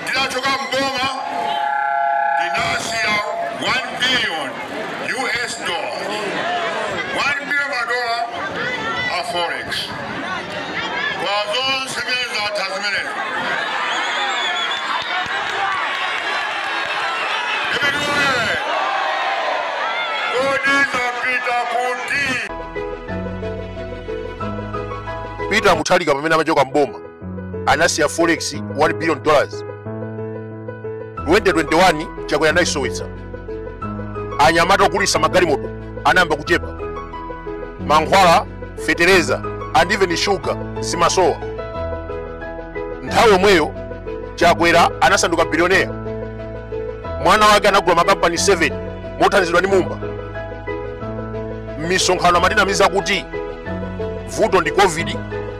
Ndinachoka m'boma ndinasiya 1 billion US dollar 1 billion madola a forex kwa zonse zimene zatha zimenezo Imeneyo, kodi zapita kuti Peter Mutharika pamene amachoka mboma anasiya forex 1 billion dollars 2021 chakwera anaisowetsa anyamata ogulitsa magalimoto anayamba kuchepa mankhwala fetereza and even shuga zimasowa nthawi yomweyo chakwera anasanduka bilioneya mwana wake anagula makampani 7 mothandizidwa ndi mumba m'misonkhano amatinamiza kuti vuto ndi covid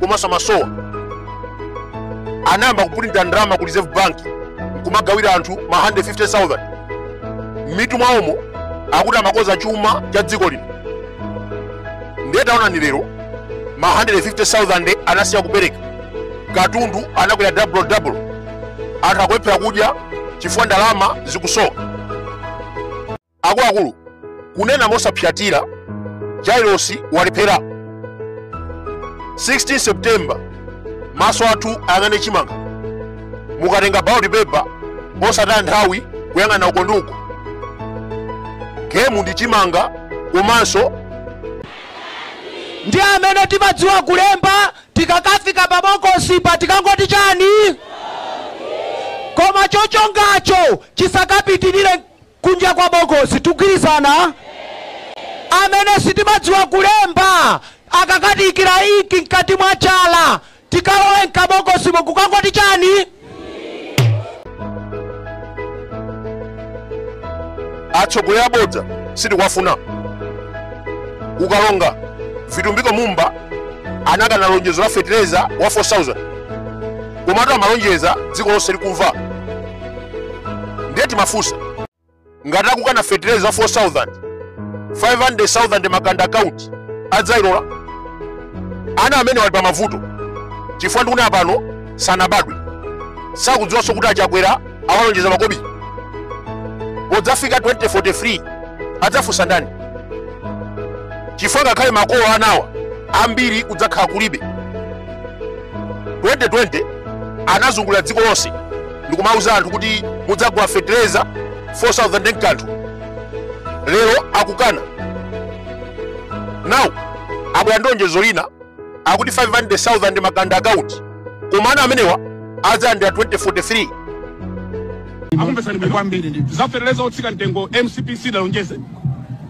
komanso Namasowa anayamba kupulinta ndalama ku reserve bank kumagawira anthu ma 150000 m'mitu mwawomo akuti amakonza chuma cha dziko lino ndiye taonani lero ma 150000 anasiya kupereka katundu anakwera double double anthu akulephera kudya chifukwa ndalama zikusowa Akuluakulu, kunena mosaphyatira, Jailosi walephera. 16 September, maso athu ayang'ane chimanga. Mukatenga ballot paper, osataya nthawi kuyang'ana uko ndi uko. Gemu ndi chimanga komanso ife amene timadziwa kulemba tikakafika pa bokosipa tikangoti chani koma chochongacho chisakapitirire kunja kwa bokosi tigwirizana? amene sitimadziwa kulemba akakatiikira inki mkati mwa chala tikalowe m'kabokosimo kukangoti chani atsogoleri abodza sitikuwafuna ukalonga vitumbiko mumba anakana lonjezo la fetereza wa 4000 komatu amalonjeza dziko lonse likumva ndiye timafunsa ngati akukana fetereza wa 4000 500000 makanda account adzayilola ana amenewa ali pa mavuto chifukwa ndikunena pano sanabadwe sakudziwanso kuti achakwera awalonjeza makobi podzafika 2043 adzafunsa ndani chifukwa ngakhale makolo a anawa ambiri kudzakhala kulibe 2020 anazungulira dziko lonse ndikumauza anthu kuti mudzagula fetereza 4000 ndi kanthu lero akukana now abwera ndi lonjezo lina akuti 500000 makanda account koma ana amenewa adzalandira 2043 akumvetsani bwino kwambiri ndi za fetereza otsika mtengo mcp sidalonjeze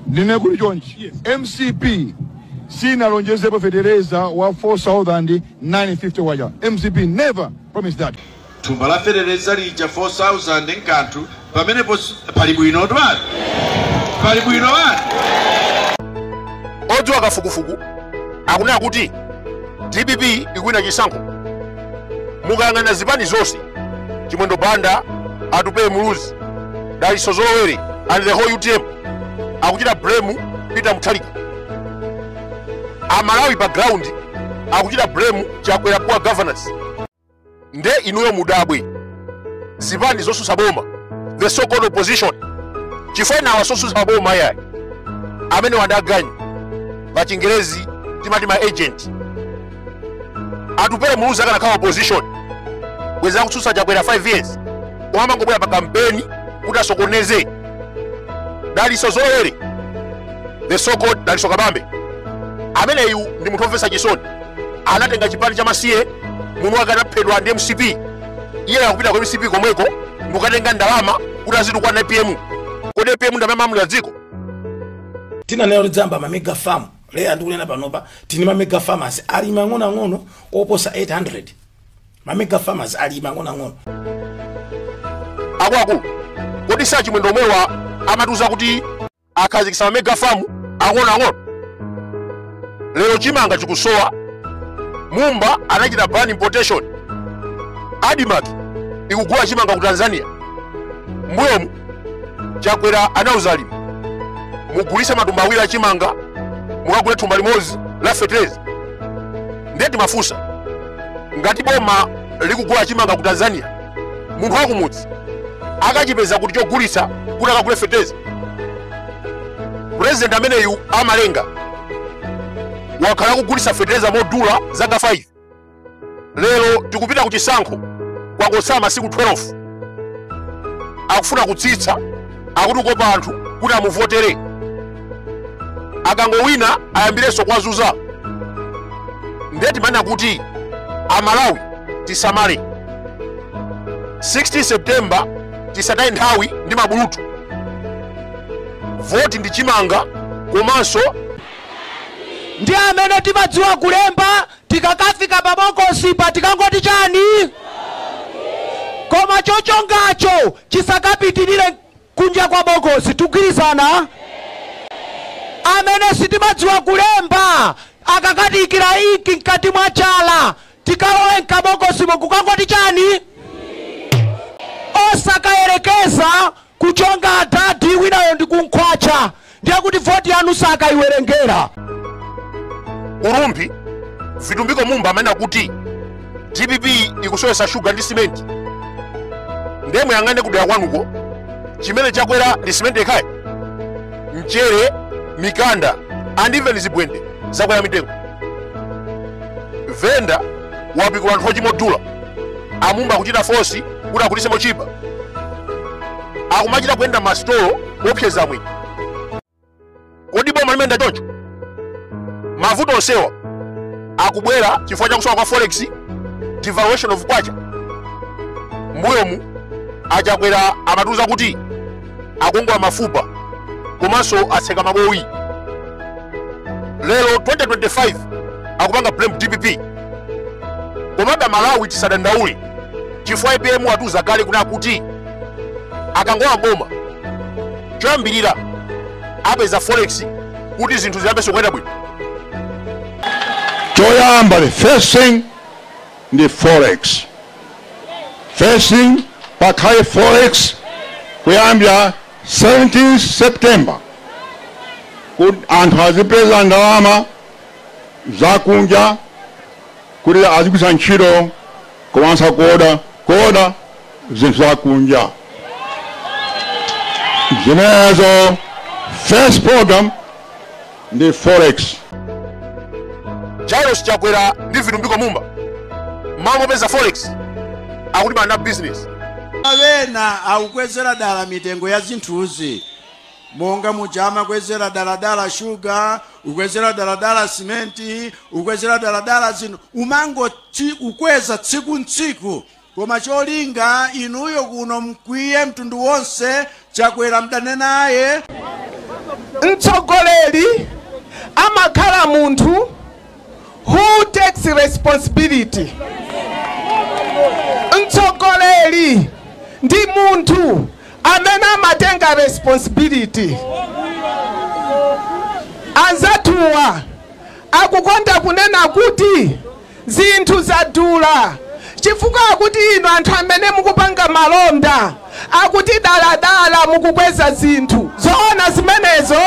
nde kuli chonchi mcp sinalonjezepo fetereza wa 4950 waja mcp never promised that thumba la fetereza lija 4000 nkanthu pamenepo pali bwino twani pali bwino wani odziwa kafukufuku akunena kuti dpp ikuwina chisankho mukayang'ana zipani zonse chimwendo banda atupele muluzi daliso zolowere and the whole utm akuchita blame peter mutharika amalawi pa ground akuchita blame chakwera poor governance nde inuyo mudabwe zipani zotsutsa boma the so called opposition chifukwa awa sotsutsa boma ayayi amenewa ndi aganyu pa chingerezi timati ma agent atupele muluzi akanakhala opposition bwenzi akutsutsa chakwera 5 years osamangobwera pa kampeni kuti asokoneze daliso zolowere the so called daliso kabambe ameneyu ndi munthu omvetsa chisoni anatenga chipani cha masiye munthu wake anaphedwa ndi mcp iye akupita ku mcp komweko ndikukatenga ndalama kuti azitukwana apm kodi apm ndi amene amalamulira dziko tinanena tidzayamba mamega farm lero ndikunena panopa tili ni mamega farmers ali mang'onoang'ono oposa 800 mamega farmers ali mang'onoang'ono akuluakulu kodi si achimwendo omwewa amatiuza kuti akhazikitsa mamega famu ang'onoang'ono lero chimanga chikusowa mumba anachita ban importation admarc ikugula chimanga ku tanzania mbuyomu chakwera anauza alimi mugulitse matumba awiri achimanga mukagule thumba limodzi la fetereza ndiye timafunsa ngati boma likugula chimanga ku tanzania munthu wakumudzi akachipeza kuti chogulitsa kuti akagule fetereza purezidenti ameneyu amalenga wakhala akugulitsa fetereza modula zaka 5 lero tikupita ku chisankho kwangotsala masiku 12 akufuna kutsitsa akuti kukopa anthu kuti amuvotere akangowina ayambirenso kuwazunza ndiye timanena kuti amalawi tisamale 16 septemba tisataye nthawi ndi mabulutu voti ndi chimanga komanso ndi amene timadziwa kulemba tikakafika pa bokosipa tikangoti chani koma chochongacho chisakapitirire kunja kwa bokosi tikugwirizana amene sitimadziwa kulemba akakatiikira inki mkati mwa chala tikalowe mkabokosimo nkukangoti chani osakayerekeza Kuchonga adadi winayo ndi kumkhwatcha ndiye kuti voti yanu sakaiwerengera. Ku Rumphi, Vitumbiko Mumba amanena kuti dpp ikusowetsa shuga ndi simenti. Ndiye muyang'ane kudera kwanuko chimene chakwera ndi simenti yekha ayi, mchere, mikanda and even zibwende zakwera mitengo. Venda wapikula nthochi modula. amumba kuchita fosi kuti agulitse motchipa akumachita kuyenda m'masitolo kuopseza mwini kodi boma limayenda choncho mavuto onsewa akubwera chifukwa cha kusowa kwa forex devaluation of kwacha mbuyomu achakwera amatiuza kuti akagwa mafupa komanso atseka mabowi lero 2025 akupanga blame dpp komabe malawi tisadandaule chifukwa apm atiuza kale kunena kuti akangolowa m'boma choyambirira apeza forex kuti zinthu ziyambenso kuyenda bwino choyamba the first thing ndi forex. First thing pakhale forex kuyambira 17 September anthu azipeza ndalama zakunja kuti azigwiritsa ntchito komanso kuoda kuoda zinthu za kunja zimenezo. First program ndi forex. Lazarus Chakwera ndi Vitumbiko Mumba mmalo mopeza forex akulimbana na business. Ena akukwezera dala mitengo ya zinthuzi monga muja amakwezera daladala shuga, ukwezera daladala simenti, ukwezera daladala zinthu, kumangoti kukweza tsiku ntsiku Koma cholinga inuyo kuno mkwiye mtundu wonse chakwera mdane naye. Mtsogoleri amakhala munthu who takes responsibility. Mtsogoleri ndi munthu amene amatenga responsibility. Anzathuwa akukonda kunena kuti. Zinthu zadhula chifukwa akuti inu anthu amene mukupanga malonda akuti dala dala mukukweza zinthu. Zoona zimenezo?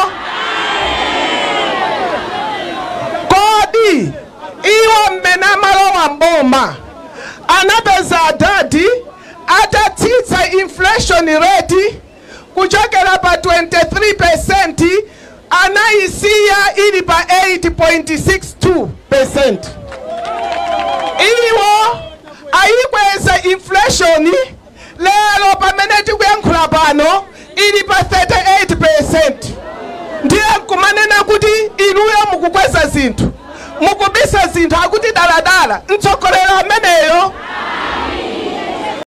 Kodi iwo mmene amalowa m'boma anapeza adadi atatsitsa inflation rate? kuchokera pa 23% anaisiya ili pa 8.62%. Iwo ayikweza inflation lero pamene tikuyankhula pano ili pa 38%. Ndiye nkumanena kuti inuyo mukukweza zinthu mukubisa zinthu akuti daladala mtsogoleri ameneyo